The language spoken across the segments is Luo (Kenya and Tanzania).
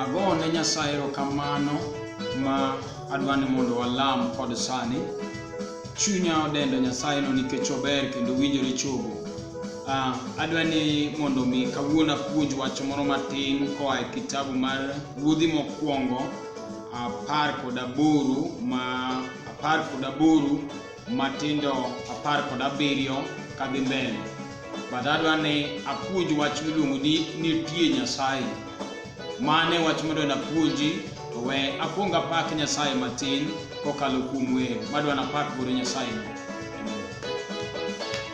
Ago ne Nyasaye erokamano ma adwa ni mondo walam kod sani. Chunya odendo Nyasayeno nikech ober kendo winjore chogo. Ah, adwa ni mondo mi kawuono apuonj wach moro matin koa e kitabu mar Ruodhi Mokwongo apar kod aboro ma apar kod aboro matindo apar kod abiriyo kadhi mbele but adwa ni apuonj wach miluongo ni nitie nyasaye mane wach madwa napuonji to we akwong apak nyasaye matin kokalo kuom wer madwa napak godo nyasaye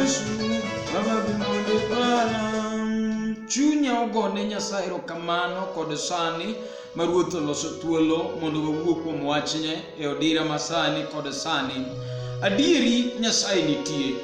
Yesu, Baba bimode para. Chunya ogone Nyasaye erokamano kod sani ma Ruoth oloso thuolo mondo wawuo kuom wachne e odira ma sani kod sani. Adieri Nyasaye nitie,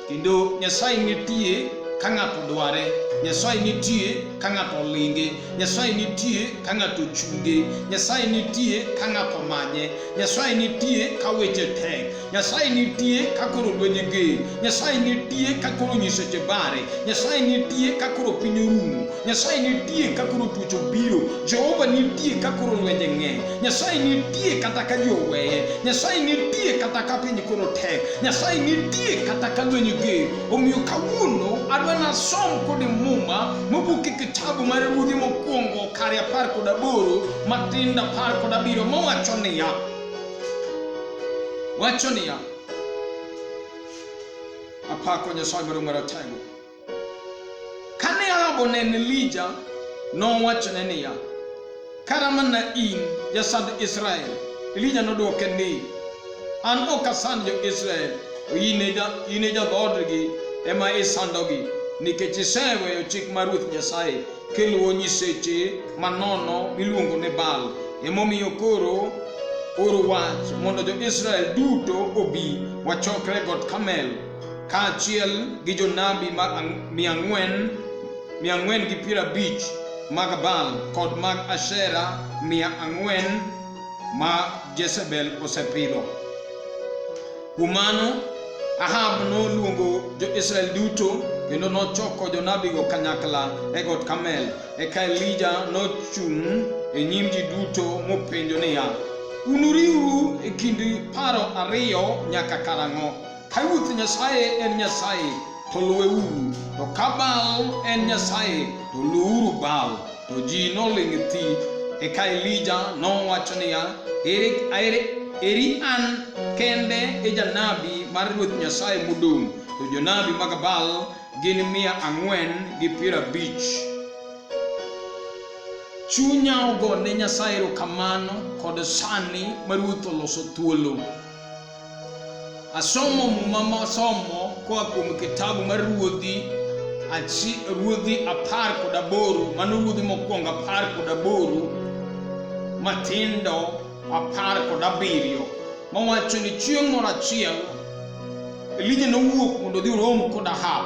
kendo Nyasaye nitie ka ng'ato dware. Nyasaye nitie ka ng'ato olinge. Nyasaye nitie ka ng'ato chunge. Nyasaye nitie ka ng'ato manye. Nyasaye nitie ka weche tek. Nyasaye nitie ka koro lwenye ge. Nyasaye nitie ka koro nyiseche bare. Nyasaye nitie ka koro piny orumo. Nyasaye nitie ka koro tuoche obiro. Jehova nitie ka koro lwenje ng'eny. Nyasaye nitie kata ka ji oweye. Nyasaye nitie kata ka piny koro tek. Nyasaye nitie kata ka lwenye ge. Omiyo kawuono adwa nasom kode muma mobuke kitabu mar ruodhi mokwongo kare apar kod aboro matindo apar kod abiriyo mowacho niya Wacho niya, apako Nyasaye Maduong' Maratego. Kane Ahab oneno Elija, nowachone niya, kara mana in jasand Israel. Elija nodwoke ni, an ok asand jo-Israel, to in e ja- in e jadhoodgi ema isandogi, nikech iseweyo chik mar Ruoth Nyasaye kiluwo nyiseche manono miluongo ni Baal. Emomiyo koro oro wach mondo jo-Israel duto obi wachokre got Kamel kaachiel gi jonabi mia ang'wen mia ang'wen gi piero abich mag Baal kod mag Ashera mia ang'wen ma Jezebel osepidho. Kuom mano, Ahab noluongo jo-Israel duto kendo nochoko jonabigo kanyakla e got Kamel. Eka Elija nochung' e nyim ji duto mopenjo niya, Unuriwru e kind paro ariyo nyaka karang'o? Ka Ruoth Nyasaye en Nyasaye, to luweuru, to ka Baal en Nyasaye, to luwuru Baal. To ji noling' thi. Eka Elija nowacho niya, eri, eri, eri an kende e janabi mar Ruoth Nyasaye modong', to jonabi mag Baal gin mia ang'wen gi piero abich. Chunya ogo ne Nyasaye erokamano kod sani ma ruoth oloso thuolo. Asomo muma mosomo koa kuom kitabu mar ruodhi achi ruodhi apar kod aboro mano ruodhi mokwongo apar kod aboro matindo apar kod abiriyo mawacho ni chieng' moro achiel Elija nowuok mondo odhi orom kod Ahab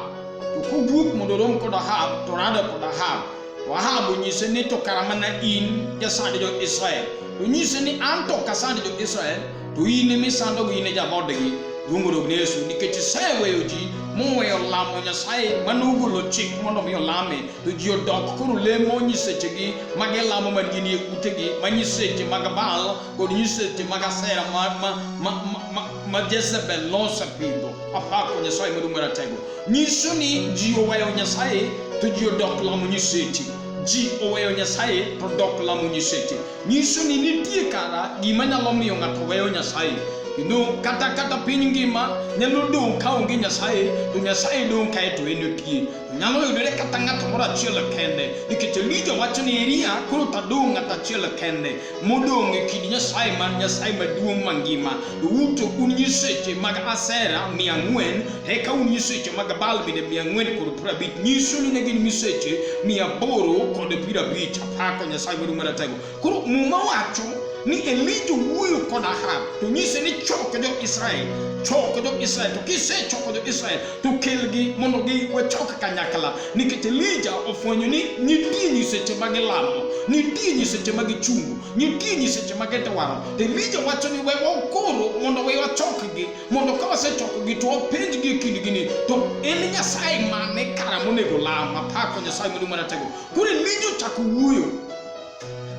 to kowuok mondo orom kod Ahab to orado kod Ahab to Ahab onyise ni to kara mana in jasand jo-Israel onyise ni an to ok asand jo-Israel To in misandogo in e jaodgi, luongoro ne Yesu nikech iseweyo ji moweyo lamo Nyasaye mane ogolo chik mondo mi olame to ji odok koro lemo nyisechegi ma gilamo man gin e utegi ma nyiseche mag Baal kod nyiseche mag Asera ma, ma, ma, ma, ma, ma Jezebel nosepidho apako Nyasaye maduong' maratego nyiso ni ji oweyo Nyasaye to ji odok lamo nyiseche ji oweyo Nyasaye to dok lamo nyiseche nyiso ni nitie kara gima nyalo miyo ng'ato weyo Nyasaye kendo kata kata piny ngima nyalo dong' ka onge Nyasaye to Nyasaye dong' kae to en otie nyalo yudore kata ng'ato moro achiel kende nikech Elija wacho ni Elia koro tadong' ng'ato achiel kende modong' e kind Nyasaye man Nyasaye maduong' mangima to uto un nyiseche mag Asera mia ang'wen eka un nyiseche mag Baal bende mia ang'wen kod piero abich nyiso ni ne gin nyiseche mia aboro kod piero abich Pako Nyasaye maduong' maratego. Koro Muma wacho ni Elija wuoyo kod Ahab to nyise ni choko jo Israel, choko jo Israel. To kisechoko jo Israel to kelgi mondo gi wachok kanyakla, nikech Elija ofwenyo ni nitie nyiseche ma gilamo, nitie nyiseche ma gichungo, nitie nyiseche ma gidwaro. To Elija wacho ni we wakoro mondo we wachokgi, mondo ka wasechokogi to wapenjgi e kindgi ni to en Nyasaye mane kara monego lam? Apako Nyasaye maduong' maratego. Koro ne jochako wuoyo.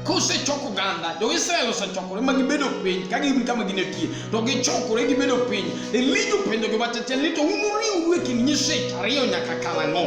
Kosechok oganda, jo-Israel osechokore ma gibedo piny, ka gin kama ginetie, to gichokore gibedo piny. Elija openjogi wacho tiend ni to unuriwru e kind nyiseche ariyo nyaka karang'o?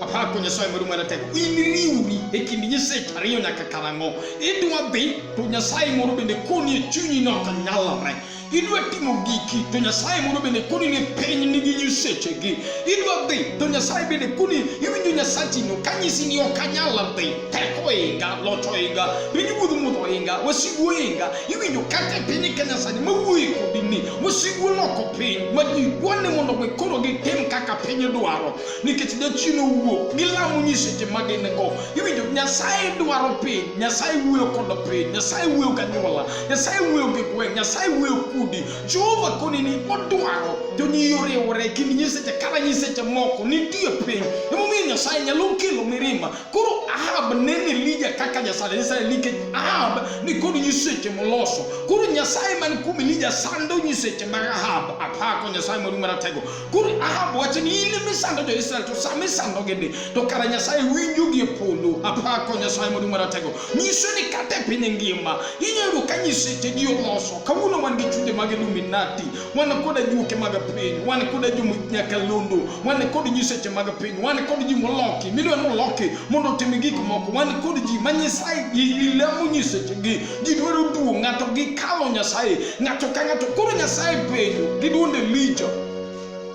Apako Nyasaye maduong' maratego, iniriwri e kind nyiseche ariyo nyaka karang'o? Idwa dhi to Nyasaye moro bende koni e chunyi ni ok nyalre. idwa timo giki to nyasaye mondo bende koni ni piny nigi nyisechegi idwa dhi to nyasaye bende koni iwinjo nyasachino kanyisi ni ok anyal dhi teko oinga loch oinga piny wuodh mudho oinga wasigu oinga iwinjo kata e piny kenya sani mawuoye kodi ni wasigu oloko piny ma ji gwane mondo mi koro gitim kaka piny dwaro nikech jachien owuok gilamo nyiseche ma gin go iwinjo nyasaye dwaro piny nyasaye wuoyo kod piny nyasaye wuoyo kanyuola nyasaye wuoyo gi gweng' nyasaye wuoyo kudi jehova konini odwaro jonyio riwore kind nyiseche kata nyiseche moko nitie piny emomiyo nyasaye nyalo kelo mirima koro ahab neno elija kaka nyasaye nyasaye nikech ahab ni kod nyiseche moloso koro nyasaye man kuom elija sando nyiseche mag ahab apako nyasaye mori maratego koro ahab wacho ni in misando jo israel to sama isandogi ni to kara nyasaye winjogi e polo apako nyasaye mori maratego nyiso ni kata e piny ngima inyalo yudo ka nyiseche ji oloso kawuono wan gi chunje mag illuminati wan koda juoke mag piny wan koda jonyakalondo wan kod nyiseche mag piny wan kod ji moloki midwa ni oloki mondo otim gik moko wan kod ji ma nyisaye ilamo nyisechegi ji dwaro duong' ng'ato gikalo nyasaye ng'ato ka ng'ato koro nyasaye penjo gi duonde licho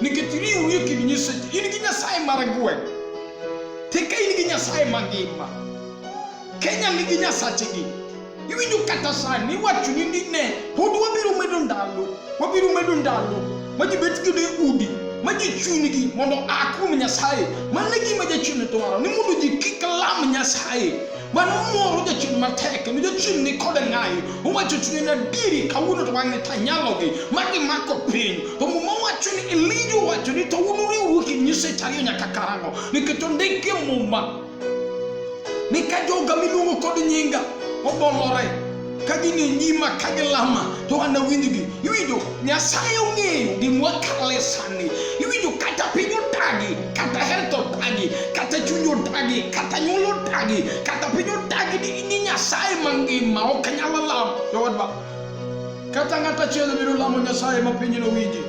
nikech riwri e kind nyiseche in gi nyasaye mar gweng' tika in gi nyasaye mangima kenya nigi nyasachegi iwinjo kata sani iwachoni ni ne pod wabiro medo ndalo wabiro medo ndalo ma ji bet godo e udi ma ji chunygi mondo a kuom nyasaye mano e gima jachien dwaro ni mondo ji kik lam nyasaye mano moro jachung' matek kendo jachung' ni koda ng'ayi owacho chunye ni adieri kawuono to wan ni tanyalogi ma gimako piny to muma wacho ni elija owacho ni to un uriwruok e nyiseche ariyo nyaka karang'o nikech ondiki e muma ni ka joga miluongo kod nyinga obolore ka gin e nyima ka gilama to an awinjgi iwinjo nyasaye ong'eyo gima wakale sani iwinjo kata piny otagi kata health otagi kata chuny otagi kata nyuol otagi kata piny otagi ni ni nyasaye mangima ok nyal lamo jowadwa kata ng'at achiel biro lamo nyasaye ma piny nowinji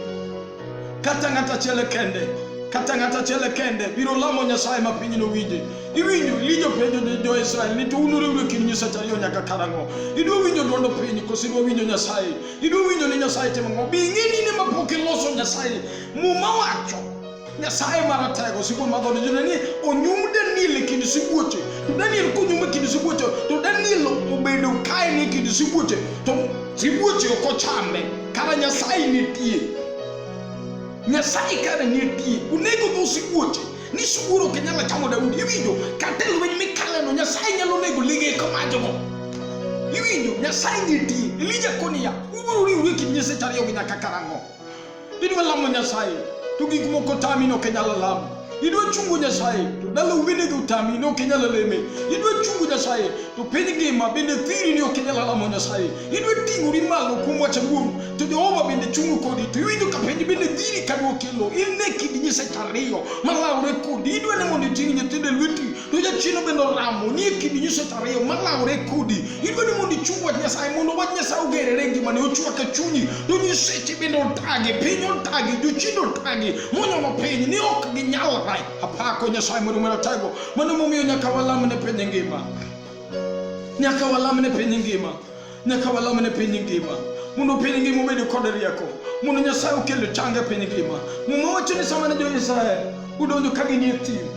kata ng'ato achiel kende kata ng'ato achiel kende biro lamo nyasaye ma piny nowinje iwinjo lijo penjo ni jo-israel ni to unuriwre kind nyiseche ariyo nyaka karang'o idwa winjo dwondo piny koso idwa winjo nyasaye idwa winjo ni nyasaye timo ng'o bi ing'e ni ne mapok iloso nyasaye muma wacho nyasaye maratego sibuor madhone jone ni onyum daniel e kind sibuoche to daniel konyum e kind sibuoche to daniel obedo kaen e kind sibuoche to sibuoche ok ochame Kara Nyasaye nitie. Nyasaye kara nitie. Onego dhi osibuoche. Ni sibuor ok nyalo chamo Daudi. Iwinjo kata e lweny mikaleno Nyasaye nyalo nego lige komajogo. Iwinjo Nyasaye nitie. Elija koniya ubiro riwru e kind nyiseche ariyogo nyaka karang'o? Idwa lamo Nyasaye to gik moko tami ni ok inyal lamo. idwa chungo nyasaye to dala uwinegi utami ni ok inyal leme idwa chungo nyasaye to piny ngima bende thiri ni ok inyal lamo nyasaye idwa ting'ori malo kuom wach awuoru to jehova bende chungo kodi to iwinjo ka piny bende thiri ka dwokelo in ne kind nyiseche ariyo malawore kodi idwa ni mondo iting' nyithindo e lweti to jachien bende oramo ni e kidi nyiso to ariyo malawore kodi idwa ni mondo ichung wach nyasaye mondo wach nyasaye ogerere ngimani ochwak e chunyi to nyiseche bende otagi piny otagi jochiende otagi monyono piny ni ok ginyalre apako nyasaye mondo mondo otego mano momiyo nyaka walamne piny ngima nyaka walamne piny ngima nyaka walamne piny ngima mondo piny ngima obed kod rieko mondo nyasaye okel change piny ngima muma wacho ni sama ne jo-israel odonjo ka ginie thim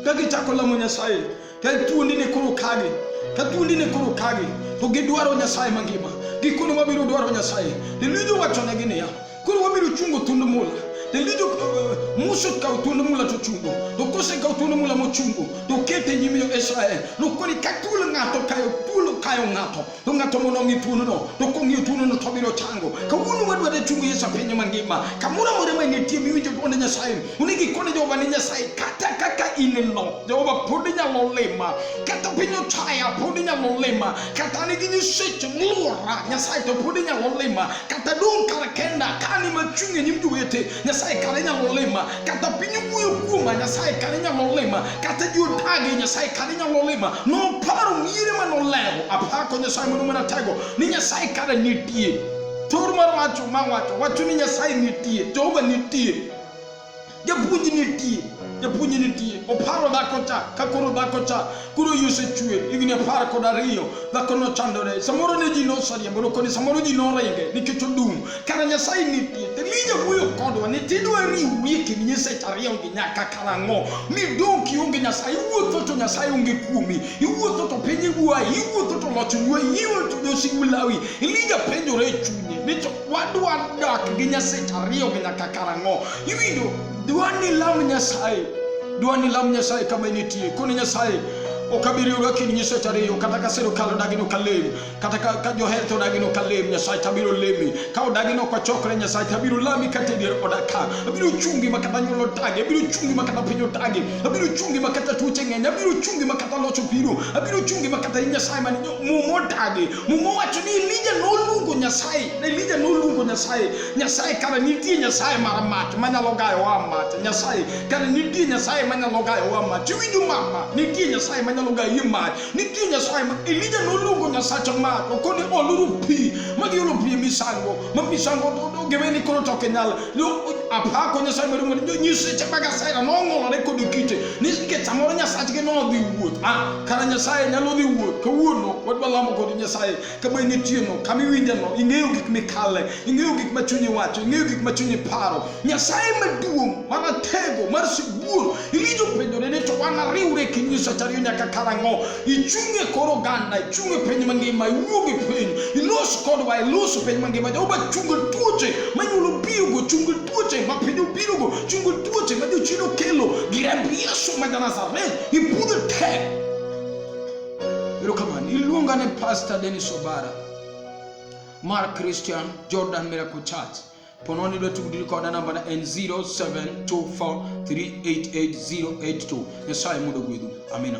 ka gichako lamo nyasaye ka thuondi ne koro kagi ka thuondi ne koro kagi to gidwaro nyasaye mangima gikone wabiro dwaro nyasaye lilijo wachonegi niya Koro wabedo chungo thund mula to lijo uh, muso kawo thuond mula to chungo to kose kawo thuond mula mochungo to kete nyim jo Israel nokoni ka thuol ng'ato kayo thuol kayo ng'ato to ng'ato mondo ong'i thuondono to kong'iyo thuondono to biro chango kawuono wadwaro chungo Yesu piny mangima kamoro amora ma nitie miwinjo dwond Nyasaye onego ikone Jehova ni Nyasaye kata kaka in no Jehova pod inyalo lima kata piny ochaya pod inyalo lima kata nigi ni seche mluora nyasaye to pod inyalo lima kata dong' kar kenda ka ni machung' e nyim jowete nyasaye kare inyalo lima kata piny wuoyo kuoma nyasaye kare inyalo lima kata ji otage nyasaye kare inyalo lima noparo miere ma nolero apako nyasaye mondo mana tego ni nyasaye kare nitie thor mar wacho ma wacho wacho ni nyasaye nitie jehova nitie Japuonj ni tie, japuonj ni tie. Oparo dhako cha, ka koro dhako cha, koro iyi osechwer, higni apar kod ariyo, dhako nochandore. Samoro ne ji nosariembo, to koni samoro ji noringe nikech odum. Kara Nyasaye ni tie, to mi jawuoyo kodwa ni tidwa riwri e kind nyiseche ariyo gi nyaka karang'o? Midong' kionge Nyasaye, iwuotho to Nyasaye onge kuomi, iwuotho to piny igwayi, iwuotho to loch oywayi, iwuotho to josigu lawi. Elija penjore e chunye ni to wadwa dak gi nyaseche ariyo gi nyaka karang'o iwinjo dwa ni lam nyasaye dwa ni lam nyasaye kama initie koni nyasaye ok abiriyo lakini nyiseche ariyo kata ka sirikal odagi ni ok alem kata ka ka joher to odagi ni ok alem nyasaye to abiro lemi ka odagi ni ok wachokre nyasaye to abiro lami kata e dier oda ka abiro chungi ma kata nyuol otagi abiro chungi ma kata piny otagi abiro chungi ma kata tuoche ng'eny abiro chungi ma kata loch obiro abiro chungi ma kata in nyasaye man muma otagi Muma owacho ni Elija noluongo Nyasaye, Elija noluongo Nyasaye, Nyasaye kana nitie Nyasaye mar mach manyalo gayo wa mach, Nyasaye kana nitie Nyasaye manyalo gayo wa mach. Iwinjo mama, nitie Nyasaye manyalo gayi mach, nitie Nyasaye ma Elija noluongo Nyasacha mach, okoni oluru pi, magi olo pi misango, ma misango to- to gebe ni koro to ok nyal. Lo- Apako Nyasaye maduong' ni nyiseche mag Asera nong'olore kod kite, ni nikech samoro Nyasachgi nodhi wuoth. Ah, Kara Nyasaye nyalo dhi wuoth kawuono wadwa lamo kod Nyasaye kama initiyeno kama iwinjeno ing'eyo gik mikale ing'eyo gik ma chunyi wacho ing'eyo gik ma chunyi paro Nyasaye maduong' maratego mar sibuor iwinjo penjore ni to wan ariwre kendo nyisacha ariyo nyaka karang'o ichung' e kor oganda ichung' e piny mangima iwuog e piny ilos kodwa ilos piny mangima Jehova chungo tuoche manyuolo biyogo chungo tuoche ma piny obirogo chungo tuoche ma jochido kelo gi remb Yesu ma Nazareth Ipudo te. Erokamano. Iluonga ni Pastor Dennis Obara mar Christian Jordan Miracle Church. Pononi dwa tudri koda namba na en 0724388082. Nyasaye mudo gwedhu. Amina.